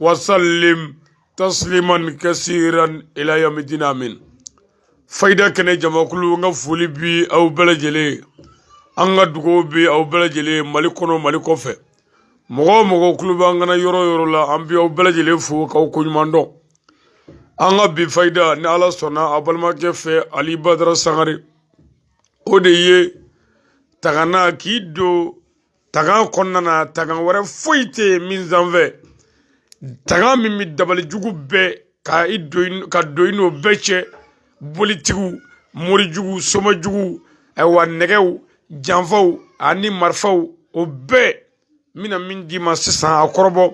wasallim tasliman kasiran ila yawmi din amin fayida kɛnɛ jamakulu n ka foli bi aw bɛɛ lajɛlen an ka dugawu bi aw bɛɛ lajɛlen mali kɔnɔ mali kɔfɛ mɔgɔ o mɔgɔ kulo b'an kan na yɔrɔ o yɔrɔ la an bi aw bɛɛ lajɛlen fo k'aw koɲuman dɔn an ka bi fayida ni ala sɔnna a balimakɛ fɛ ali badara sangare o de ye tagana k'i don tagan kɔnɔna na tagan wɛrɛ foyi tɛ min sanfɛ tagan min bɛ dabali jugu bɛɛ ka don i n'o bɛɛ cɛ bolitigiw morijugu somajugu ayiwa nɛgɛw janfaw ani marifaw o bɛɛ n bɛna min d'i ma sisan a kɔrɔbɔ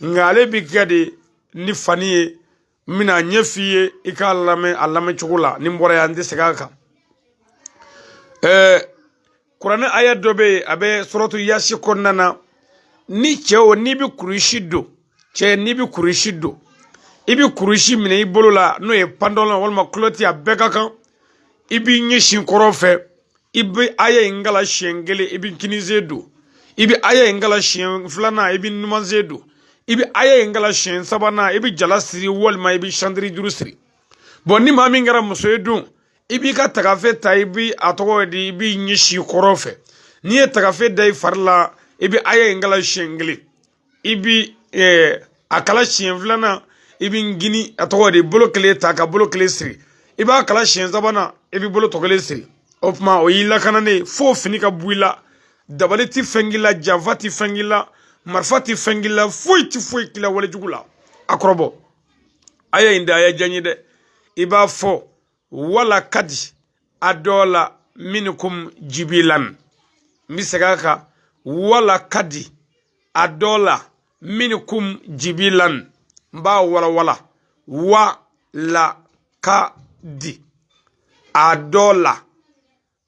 nka ale bɛ kɛ de ni fani ye n bɛna a ɲɛ f'i ye i k'a lamɛn a lamɛn cogo la ni n bɔra yan n tɛ segin a kan ɛɛ kuranɛ aya dɔ bɛ yen a bɛ suratu yasi kɔnɔna na ni cɛ o n'i bɛ kurusi don cɛ n'i bɛ kurusi don i bɛ kurusi minɛ i bolo la n'o ye pantalɔn walima kulɔti a bɛɛ ka kan i b'i ɲɛsin kɔrɔn fɛ i bɛ aya in kalan siɲɛ kelen i bɛ kininsen don i bɛ aya in kalan siɲɛ filanan i bɛ numansen don i bɛ aya in kalan siɲɛ sabanan i bɛ jala siri walima i bɛ santiri juru siri bɔn ni maa min kɛra muso ye dun i b'i ka tagafe ta i bɛ a tɔgɔ di i b'i ɲɛsin kɔrɔn fɛ n'i ye tagafe da i fari la i bɛ aya in kalan siɲɛ kelen i bi a kalan siɲɛ filanan i bi kinin a tɔgɔ di bolo kelen ta ka bolo kelen siri i b'a kalan siɲɛ sabanan i bi bolo tɔ kelen siri o tuma o y'i lakananen fo fini ka bɔ i la dabali ti fɛn k'i la janfa ti fɛn k'i la marifa ti fɛn k'i la foyi ti foyi k'i la walejugu la a kɔrɔbɔ aya in de aya jan ti dɛ i b'a fɔ wala kadi a dɔɔ la minikum jibilan n bɛ segin a kan wala kadi a dɔɔ la minikum jibilan n b'a walawala wa la ka di a dɔɔ la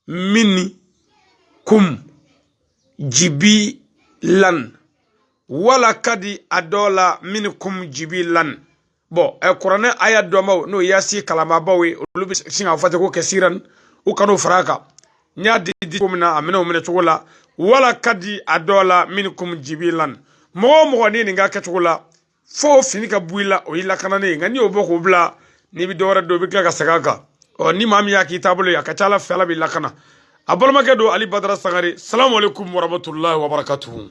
minkum jibilan walakadi adɔla minkum jibilan bɔn ɛ kuranɛ aya dɔnbaw n'o yasi kalanbaabaw ye olu bɛ sin k'a fɔ ten ko kasiran u kan'o fara a kan n y'a di di cogo min na a minɛ o minɛ cogo la walakadi adɔla minkum jibilan mɔgɔ o mɔgɔ ni nin k'a kɛcogo la fo fini ka bɔ i la o y'i lakananen ye nka n'i y'o bɔ k'o bila n'i bɛ dɔwɛrɛ don i bɛ tila ka segin a kan ɔ ni maa min y'a k'i taabolo ye a ka ca ala fɛ ala b'i lakana a balimakɛ don ali badara sangare salamu aleykum waramatulahi wabarakatuhu